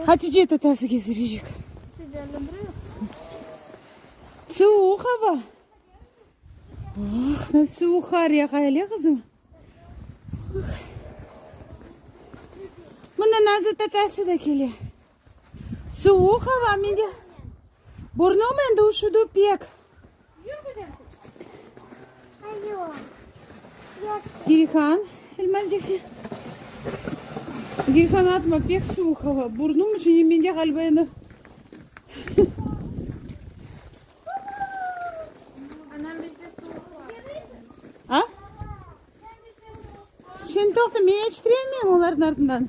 Hatice tatası gezdirecek. Suvuq hava. Ah, ne suvuq qar yağay, ele qızım? Mına Nazı tatası da kele. Suvuq hava, mende. Burnumen da üşüdü pek. Gilhan, elmacık, Gilhan, atma, pek suvuq hava, burnum içine mende ğaliba endi. A? Şimdi toqta, men yetiştiremeyim onların ardından.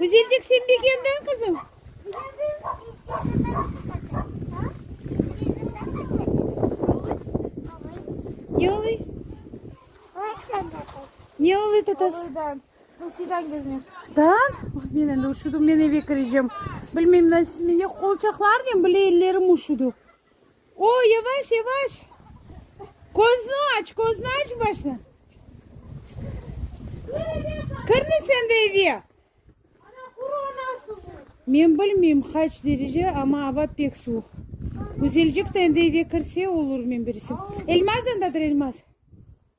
Güzelcik, sen de keldiñ, qızım? Ne oluy? Ne oluy, tatas? Rusiyden geldim. Dan? Men endi üşüdim, men eve kireceğim. Bilmeyim, nasıl mende qolçaqlar nem, bile ellerim üşüdi. O, yavaş, yavaş! Köznü aç, köznü aç başta! Kirme sen de eve! Men bilmeyim qaç derece, amma ava pek suvuq. Güzelcik de endi eve kirse olur, men bilsem. Elmaz yandadır, Elmaz.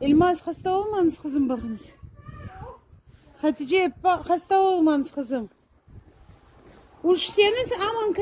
İlmaz, hasta olmañız qızım, baqıñız. Hatice, hasta olmañız qızım. Üşüseñiz, aman.